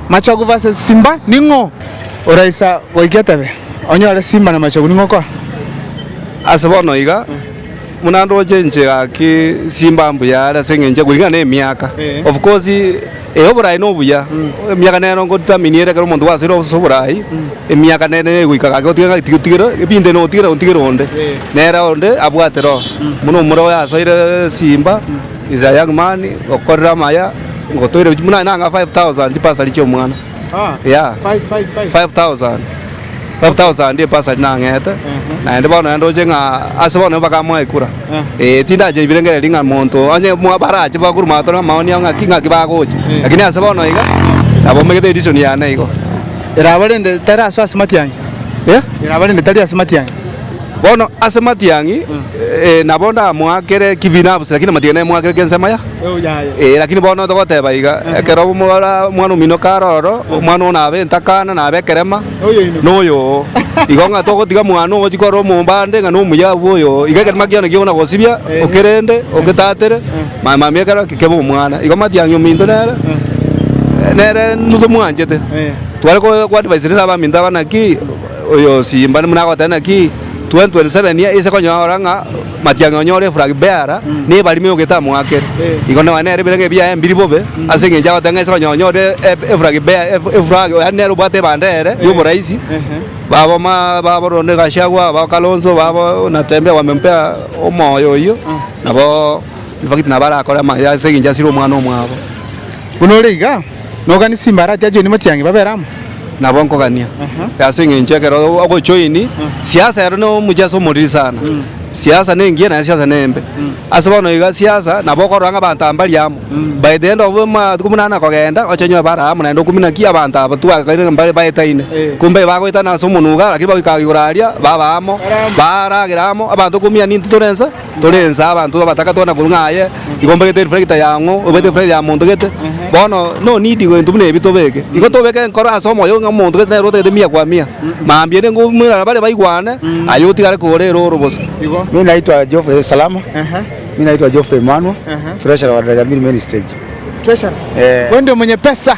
Machogu vs Simba, ning'o oraisa goika etebe? Onyore Simba na Machogu ning'o okoa? Ase bono iga, buna ndoche inche gaki Simba mbuya are ase eng'encho kuringana na emiaka. Of course eh oborayi na obuya, emiaka nero nko determine ere ekero omonto gwasoire ase oborayi, emiaka nere nere egoika gaki otiga ng'a tiga otigere ebinto ebi notigere otigere onde. Nere onde abwate roho, buna omore oyo asoire Simba. Is a young man okorire amaya ngotoire gochia buna nang'a 5000 chibasari chiomwana yeah 5000 5000 ebasari nang'ete naende bono naende oche ng'a ase bono mpaka mwaikura eh tindache ibirengereria ng'a monto onye mwa barache bakorwa matore amaoni ao ng'aki ng'aki bagocha lakini ase bono iga nabo omanyete edition yane igo. Eraba rende tari ase ase matiang'i? Erabarende tari ase matiang'i. Bono ase matiang'i nabo ndamoakere kibi nabose, lakini amatiang'i naimoakere gensemo yaye. Lakini bono togoteba iga, ekero omwana omino kare ororo, omwana oo nabe entakana, nabe ekerema, noyo oo. Igo ng'a togotiga mwane ogochia korora omomba ande ng'a nomuya abwo oyo oo. Iga ekerema kiane kigo nagosibia, okerende, ogetatere, mambia mambia ekero eke kebe omwana. Igo matiang'i ominto nere, nere ntomoanchete. Tware ko advice rende abaminto aba naki. Oyosiimba buna agoteba naki 2027 ise konyora ng'a matiang'e onyore eflag bearer na ebarima eyogete amo ake. Igo nonya nere ebirengererio biaye mbiri bobe ase engencho agoteba ng'a ise konyora onyore eflag bearer eflag yaani nere obwate ebanda ere y'oboraisi babo ma babo Rigathi Gachagua babo Kalonzo babo Natembeya wamempea omoyo oyio nabo in fact nabo arakore amaye ase engencho asire omwana omwabo. Buna ore iga, noganie chimbaarachi ajoini mochiang'e babere amo. Nabo nkogania, ase eng'encho ekero ogochoini siasa ero ne omochiasa omoriri sana. Siasa nengiya naende siasa nembe. Ase bono iga siasa nabo okorora ng'a abanto aba mbari amo. By the end of amatuko buna ane kogenda, oche onyore bare amo naende okumina ki abanto aba twagaikaire ng'a mbare baetaine. Ko mbaiyo bagoetana ase omonwe igaa, lakini bagoika igoro aria baba amo, baaragera amo, abanto okumia ninto tore inse. tore ense abanto abataka twana korwa ng'a aye igo mbagete reflector ya ang'o obete reflector ya monto gete bono no need gento buna ebi tobeke igo tobeke enkoro ase omoyo ng'a omonto gete nere otagete mia kwa mia mambia ere ngoumera bare baigwane aye otigare kore ere oro bosa. Mi naitwa Geoffrey Salama. Mi naitwa Geoffrey Emmanuel. Treasurer wa Daraja Mill Main Stage. Treasurer. Ee. Wendi omonye pesa.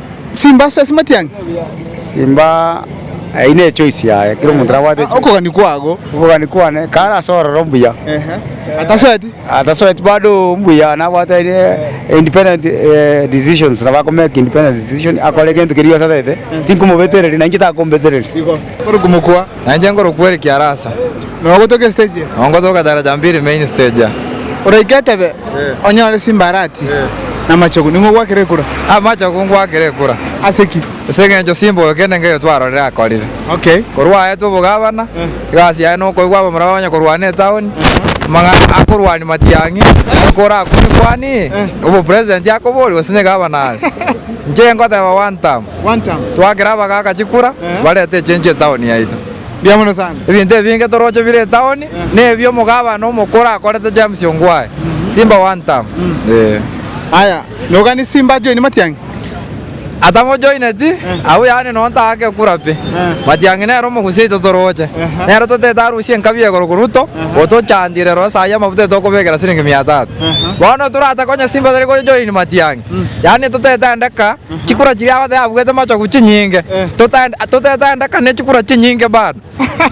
Simba ase esimatiang'i. Simba eyio ne choice yaye kera omonto nabwate echoice. Okogani kwago. Okogani kwane kare ase ororo mbuya. Ehe. Atasoeti. Atasoeti bado mbuya nabwate aye independent decisions nabo akomake independent decision akore egento keria giosatarete tinkomobetereria na inche takombetereria. Igo. Ore komokwa. Na inche nkorokwa Eric Arasa. Na ogotoka estage eye. Na ongotoka Daraja Mbili main stage aa. Oraike etebe, onyore simbarati na amachogu, ning'o ogwakere ekura? Amachogu ngwakere ekura. Ase ki? Ase engencho simboyo kende nkeyo twarorire akorire. Okay. Korwa aetwe obogabana, egasi yaye nokoigwa abamura bamanye korwana etaoni, amang'ana akorwani matiang'i, oko orakumie kwani, obopresident akoborie gose negabana are. Inche ngoteba one term. Twakera abagaaka chikura, bareta echencho etaoni yaito. Ebinto ebinge toroche bire etaoni nebio omogabana omokoro akorete James Ongwae, Simba one term. Atamojoineti, abwo yaani nonya ntagake ekura pi. Matiang'i nere omogusi yaito toroche. Nere totaete arusie enkabi egoro korwa to, otochandire rora saii amafuta yaito okobekera siringi mia tatu. Bono toratake onye Simba tari gojoin Matiang'i, yaani totaete aende kaa, Chikura chiria abatebia abuete machogu chinyinge totetandekane chikura chinyinge bado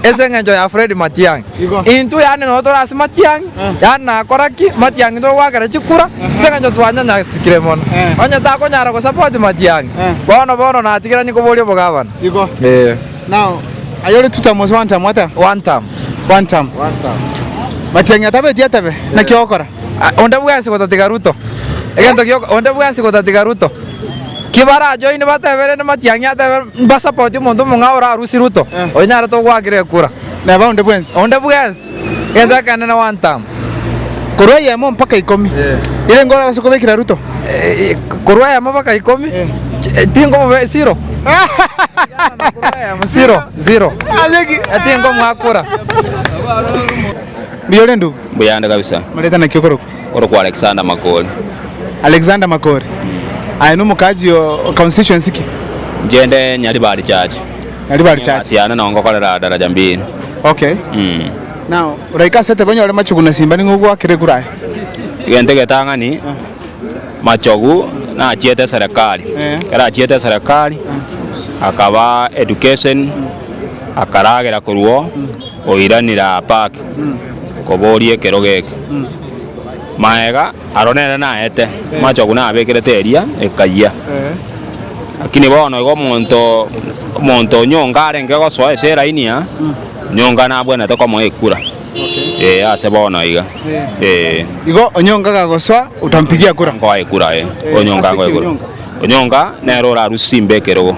ase engencho ya Fred Matiangi intwe yaani nonya tore ase Matiangi yaani nakora ki Matiangi togoakera chikura ase engencho twanyanyasikire mono onye takonyara go support Matiangi bono bono natigeranie koboria obogavana Igo ee. Now aye ore two term gose one term? One term. One term. One term. Matiangi atabeti atebe naki ogokora? Onde bwensi gotatiga Ruto, egento gio, onde bwensi gotatiga Ruto. Ki barajoini bateberene Matiang'i atebe mbasapoti omonto omong'ao orarusie Ruto, oyo nyarete ogoakera ekura. Neba onde bwensi. Onde bwensi, egento ekenene one term. Korwa eyemo mpaka ikomi. Ire ngoro abase kobekera Ruto. Eh, korwa eyemo mpaka ikomi, eh, tingomobe zero. Zero, zero. Ase ki? Eh, tingomoa kura. Mbuya ore ndugu? Mbuya ande kabisa. Omoretana ki okorokwa? Korokwa Alexander Makori. Alexander Makori. Aye na omokaji oo constituency ki? Inche inde Nyaribari church. Nyaribari church. Egasi yane no ngokorera daraja mbili. Okay. Now oraike ase tebe onyore machogu na simba ning'o ogwakere ekura aye? Egento egetang'ani machogu nachiete eserekari. Ekero achiete eserekari akaba education akaragera korwa oo. Oiranire aa Parke koboria ekerogo eke. Maega aro nere naete amachogu nabekerete eria ekayia. Lakini bono igo omonto omonto onyonga arenge gosoa ase eraini aa onyonga nabwenete komoa ekura ee ase bono iga ee. Igo onyonga gagosoa otampigia kura. Nkoa ekura ee onyonga Ase ki onyonga? Onyonga nere orarusie imbe ekerogo.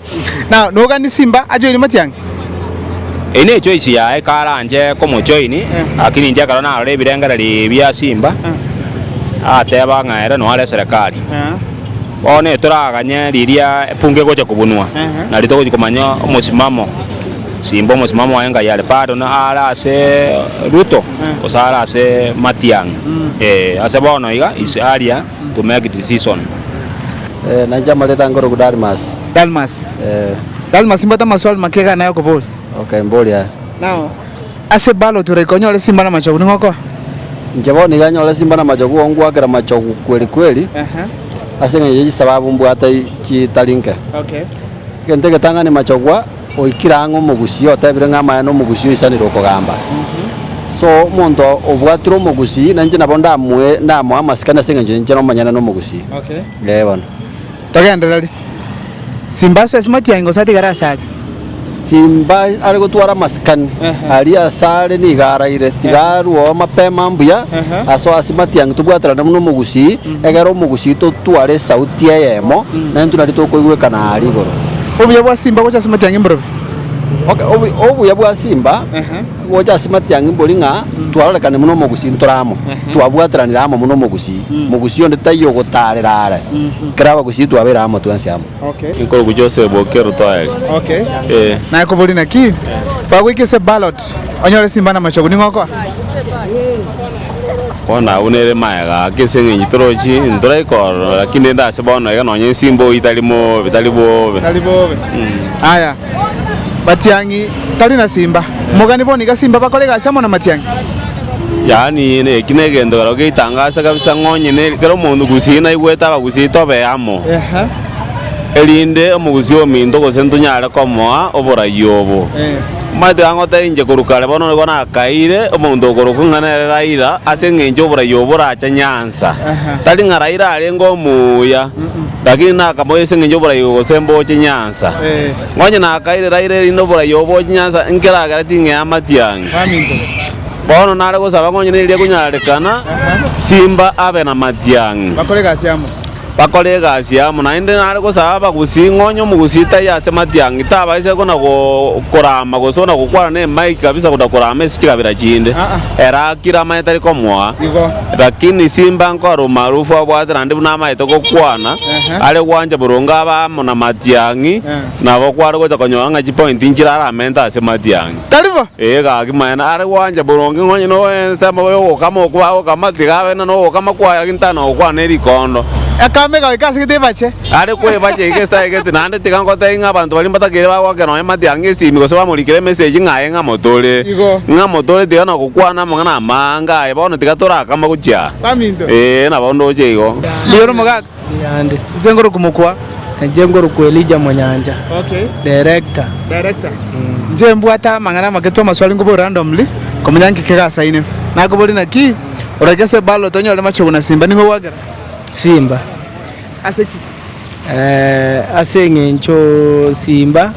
Na nogani simba achoini matiang'i? Eino echoice yaye karanche komochoini, lakini inche ekero narora ebirengereri bia simba, nateba ng'a ere noare eserekari. Bono etoraganye riria epunga egocha kobunwa, nario togochi komanya omosimamo simba omosimamo oye ngai are bado are ase Ruto gose are ase matiang'i. Ee ase bono iga ise aria. to make it season. Nainche amareeta ange orokwa Dalmas. Dalmas. Dalmas mbwate amaswali make iga ane ayokoboria. Okay, mboria aya. Now, ase ballot oraika onyore simba namachogu, ning'o okoa? Inche bono iga nyore simba namachogu ongwakera machogu kweri kweri Ehe. ase eng'encho ya chisababu mbwate chitari nke. Okay. Egento egetang'ani machogwa. Oikire ang'e omogusii otebire ng'a amaya n'omogusii oisanire okogamba. So omonto obwatire omogusii nainche nabo ndamoe ndamoe amasikani ase engencho ninche nomonyene nomogusii. Ee bono. Togendereri. Simba ase esimati yaye gose atigare ase are. Simba are gotwara amasikani aria ase are nigo araire tiga arwoo mapema mbuya asoe asimati yange tobwaterane buna omogusii. Egera omogusi oito otware esauti eyemo, naintwe nario tokoigwekana aaria igoro. Obuya bwa simba gocha ase matiang'i mboro pi? Okay, obu- obuya bwa simba Ehe. gocha ase matiang'i mbori ng'a twarorekane buna omogusi ntore amo, twabwateranire amo buna omogusi, mogusi onde taiyo ogotaarera are, kera abagusi twabeire amo twensi amo. Nkorugu Jose boke Rutwaeli. Ee. Naye koboria naki bagoika ase ballot onyore simba na machogu ning'o okoa? Bono abwo nere magega ake ase eng'encho torochi ntorai korora lakini rende ase bono iga nonye nsimba oitari mobe tari bobe. Tari bobe. Aya. Matiang'i tari na simba. Omogani bono iga simba bakora egasi amo na matiang'i. Yaani eki negento keroo geitangaase kabisa ng'onyene kera omonto gusii naigwete abagusii tobe amo erinde omogusii ominto gose ntonyare komoa oborai obo. Omanyete iga ngoteba inche korwa kare bono nigo nakaire omonto okorokwa ng'a nere Raila ase eng'encho oborai obo orache Nyanza. Tari ng'a Raila arenge omuuya. Lakini nakamobia, Ase engencho y'oboraio gose mboche nyansa. Onye nakaire raire erinde oboraio oboche nyansa, nkeragera ting'ea amatiang'i. Bono nare gosaba ng'a onye neria ekonyarekana, simba abe namatiang'i. Bakore egasi amo. Naende nare gosaba abagusii, ng'a onye omogusii taiyo ase matiang'i, tabaiseti kona korama gose kona gokwana nemai kabisa kona korama ase chikabera chinde. Ere akire amanye tari komoa. Lakini Simba nkore omaarufu abwate naende buna amaete gokwana are gwancha boronge abamo na matiang'i nabo kware gocha konyora ng'a chipointi nchire aramente ase matiang'i. Tari bo? Ee gaki maene are gwancha boronge nonye n'ensemo y'ogokama okwo bagokama tiga abe na nogokama kwaye lakini tari nogokwana erikondo. Ekamba egaika ase gete ebache. Are kwebacha egesae gete, naende tiga ngotebie ng'a abanto baria mbatakeire bagoaka nonya mati ang'e esimi gose bamorikere emesegi ng'a aye ng'amotore. Igo. Ng'amotore tiga nogokwana amang'ana amanga aye bono tiga torakama gochia aa. Baminto. Ee, nabo ndoche igo. Rigia ore omogaka. Yande. Inche ngore komokwa. Inche ngore kwa Elija Monyancha. Okay. Director. Director. Inche mbwate amang'ana amake twa amaswali ngoborie random ri, komanya nki kegasaine. Nakoborie naki, oragese ballot onyore machogu na simba, ning'o ogoakera? Simba. Ase ki? Ee, ase engencho simba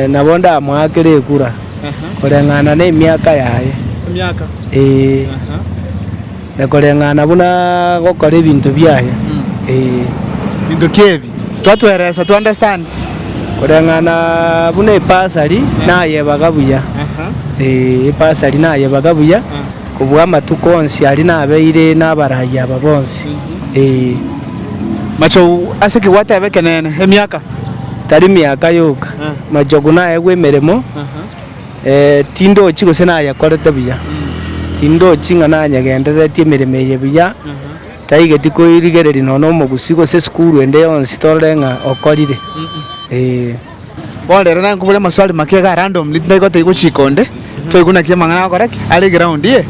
nabo ndamoakere ekura koreng'ana nemiaka yaye. Emiaka? Ee, na koreng'ana buna agokora ebinto biaye. Ee. Binto ki ebi? Twatweresa to understand. Koreng'ana buna ebasari nayebaga buya. Ee, ebasari nayebaga buya. Kobua amatuko onsi aria nabeire nabaragia aba bonsi, ee. Machogu ase ki gwateba ekeneene? Emiaka? Tari miaka yoka. Machogu naegwe emeremo, ee, tindochi gose nayekorete buya. Tindochi ng'a nanyegendereretie emeremo eye buya, taigeti koirigereria nonya omogusii gose esukuru ende yonsi torore ng'a okorire, ee. Bono rero naye nkobore amaswali make iga random rinde gotaigwe chiko onde toigwe naki amang'ana agokora ki are ground iye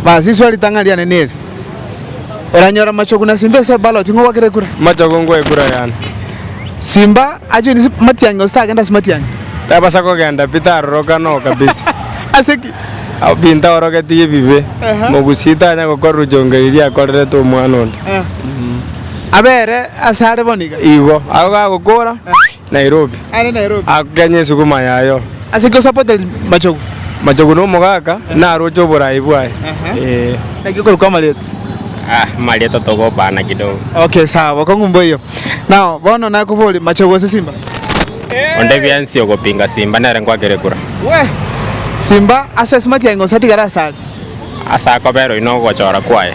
basi iswa ritang'ani riane neri oranyora machogu na simba ase ballot ng'o gwakere kura Machogu ngoe kura yane. simba ajoini si- matiang'i gose tagende ase matiang'i Tabasa kogenda pi taroroka no kabisa. ase ki Abo binto aorogetie bibe. Aha. Mogusii tanya gokora ruchongo erio riakorerete omwana onde. Eh. Abere asare bono iga. Igo, agwo gagokora Nairobi. Aende Nairobi. Akenye esuguma yayo. Ase ki osupported machogu? Machogu na omogaka naroche oborayi bwaye. Eeh. Naki okorokwa amarieta? Ah, amarieta togobana kidogo. Okay sawa bokong'u mboiyo. Now bono nakoborie machogu gose simba? Onde biansi ogopinga simba nere ngwakere kura. Wee! Simba ase osimati aye ng'o osatigare asare? ase akoberwa inwe ogochora kwaye.